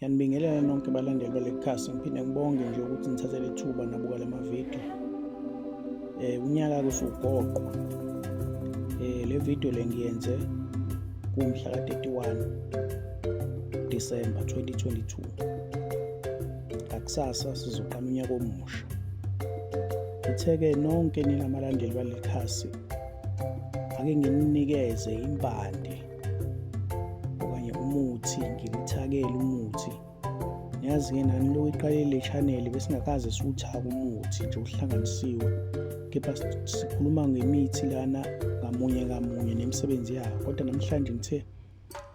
Ngiyanibingelela nonke balandeli balekhasi ngiphinde ngibonge nje ukuthi nithathe lethuba nabuka lamavideo eh unyaka kusugoqwa eh le video le ngiyenze kumhla ka 31 December 2022 akusasa sizoqala unyaka omusha ngitheke nonke ninamalandeli balekhasi ake ngininikeze impande okanye umuthi ngilithakele umuthi yazi-ke nani lokhu iqalile chaneli besingakaze siwuthake umuthi nje uhlanganisiwe kepha sikhuluma ngemithi lana ngamunye ngamunye nemisebenzi yayo kodwa namhlanje ngithe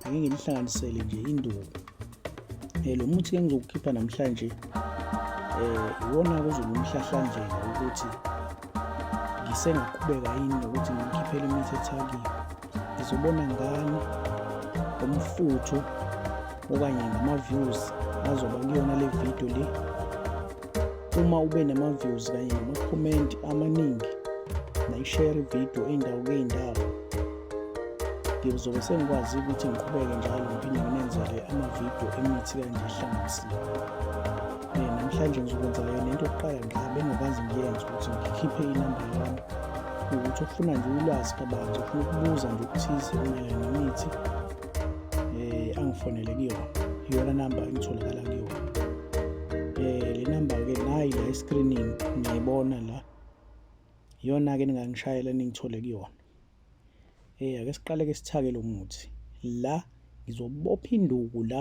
ake ngilihlanganisele nje induku um eh, lo muthi-ke ngizokukhipha namhlanje um iwona kuzoba umhlahlandlela ukuthi ngisengaqhubeka yini nokuthi ngikhiphele imithi ethakile ngizobona ngani ngomfutho okanye ngama-views azoba kuyona le video le uma ube nama-views kanye namakhomenti amaningi nayishare ividiyo indawo kuyindawo ngizobe sengikwazi ukuthi ngiqhubeke njalo ngiphinde nginenzele amavidiyo emithi kanje ehlanganisiwe Eh, namhlanje ngizokwenzela yona into yokuqala nje bengakwazi ngiyenze ukuthi ngikhiphe inamba yami ukuthi ufuna nje ulwazi kabanzi ufuna ukubuza nje ukuthize mayelana nemithi um angifonele kuyona iyona namba engitholakala kuyona um le namba-ke nayi la escreening ngiyayibona la iyona-ke ningangishayela ningithole kuyona um ake siqale-ke sithake lo muthi la ngizobopha induku la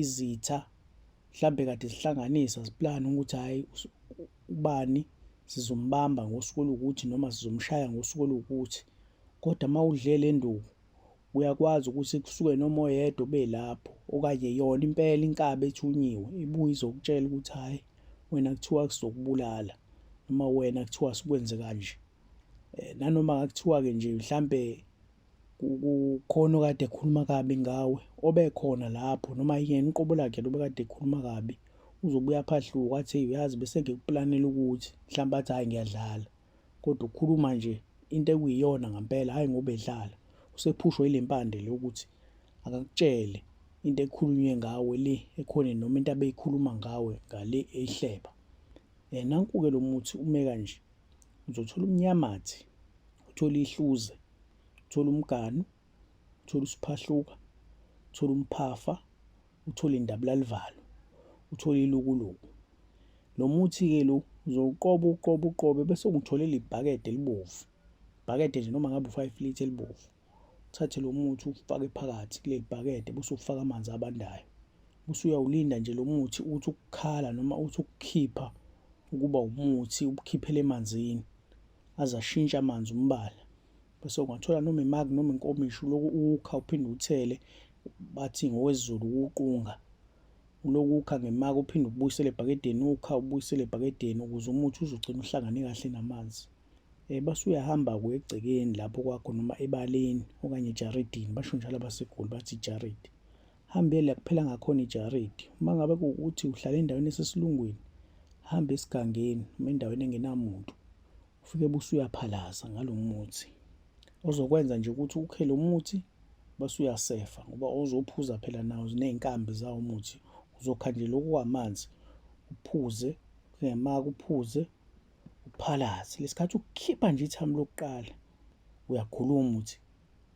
izitha mhlambe kade zihlanganisa ziplane ukuthi hhayi ubani sizombamba ngosuku oluwukuthi noma sizomshaya ngosuku oluwukuthi kodwa uma udle le nduku uyakwazi ukuthi kusuke noma oyedwa obelapho okanye yona impela inkabi ethunyiwe ibuye izokutshela ukuthi hhayi wena kuthiwa kuzokubulala noma wena kuthiwa sikwenze kanje um nanoma kuthiwa-ke nje mhlampe kukhona okade ekhuluma kabi ngawe obekhona lapho noma yena uqobo lakhe lobe kade ekhuluma kabi uzobuya phahluka athi uyazi bese ngikuplanela ukuthi mhlawumbe athi hhayi ngiyadlala kodwa ukhuluma nje into ekuyiyona ngampela hhayi ngoba edlala usephushwa yile mpande le ukuthi akakutshele into ekhulunywe ngawe le ekhona noma into abeyikhuluma ngawe ngale eyihleba um nanku-ke lo muthi ume kanje Uzothola umnyamathi, uthole ihluze, uthole umganu, uthole usiphahluka, uthole umphafa, uthole indabulalivalo, uthole ilukuluku. Lo muthi-ke lo uzowuqoba uqoba uqobe bese ungitholela ibhakede elibovu. Ibhakede nje noma ngabe u-five litre elibovu. uthathe lo muthi ufake phakathi kuleli bhakede bese ufaka amanzi abandayo bese uyawulinda nje lo muthi uthi ukukhala noma uthi ukukhipha ukuba umuthi ubukhiphele emanzini aze ashintshe amanzi umbala bese ungathola noma imaki noma inkomishi uloku ukha uphinde uthele bathi ngowezulu ukuqunga uloku ukha ngemaki uphinde ubuyisele ebhakedeni ukha ubuyisele ebhakedeni ukuze umuthi uzogcina uhlangane kahle namanzi Eh, base uyahamba-ke egcekeni lapho kwakho noma ebaleni okanye ejaridini basho njalo abaseGoli bathi ijaridi hambe la kuphela ngakhona ijaridi uma ngabe kuwukuthi uhlala endaweni esesilungwini hambe esigangeni noma endaweni engenamuntu ufike busuyaphalaza ngalo muthi ozokwenza nje ukuthi ukhe lo muthi base uyasefa ngoba ozophuza phela nawo ziney'nkambi zawo umuthi uzokha nje lokhu kwamanzi uphuze kungema kuphuze uPhalazi lesikhathi ukhipha nje ithamu lokuqala uyakhuluma uthi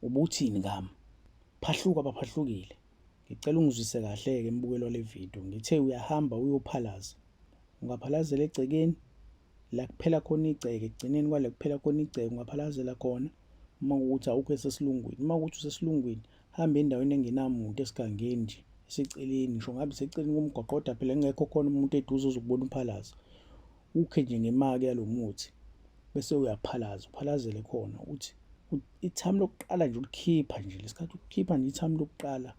ubuthini ngami phahluka baphahlukile ngicela ungizwise kahle-ke embukelo wale video ngithe uyahamba uyophalaza ungaphalazela egcekeni la kuphela khona igceke ekugcineni kwale kuphela khona igceke ungaphalazela khona uma ukuthi awukho esesilungwini uma ukuthi usesilungwini hamba endaweni engenamuntu esigangeni nje eseceleni ngisho ngabe seceleni komgwaqo kodwa phela kungekho khona umuntu eduze ozokubona umphalaza Ukhe nje ngemake yalomuthi bese uyaphalaza uphalazele khona ukuthi ithami lokuqala nje ulikhipha nje lesikhathi ukhipha nje ithami lokuqala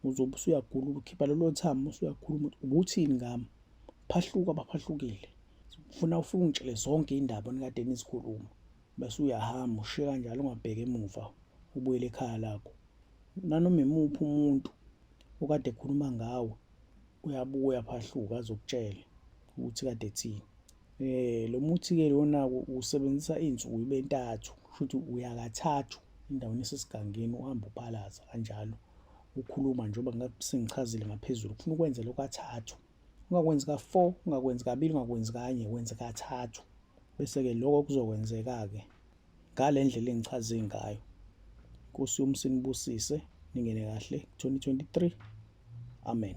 uzobe usuyagula ukhipha lelo thami usuyakhuluma ubuthini ngami phahluka baphahlukile ufuna ufike ungitshele zonke indaba nikade nizikhuluma bese uyahamba ushiye kanjalo ungabheki emuva ubuyele ekhaya lakho nanoma imuphi umuntu okade ekhuluma ngawe uyabuya phahluka azokutshela ukuthi kade thini eh lo muthi ke lona usebenzisa izinsuku ibe ntathu futhi uyakathathu endaweni esesigangeni uhamba uphalaza kanjalo ukhuluma njengoba ngasengichazile ngaphezulu ufuna ukwenza lokho athathu ungakwenzi ka4 ungakwenzi kabili ungakwenzi kanye wenze kathathu bese ke lokho kuzokwenzeka ke ngalendlela engichaze ngayo Nkosi yomsinibusise ningene kahle 2023 amen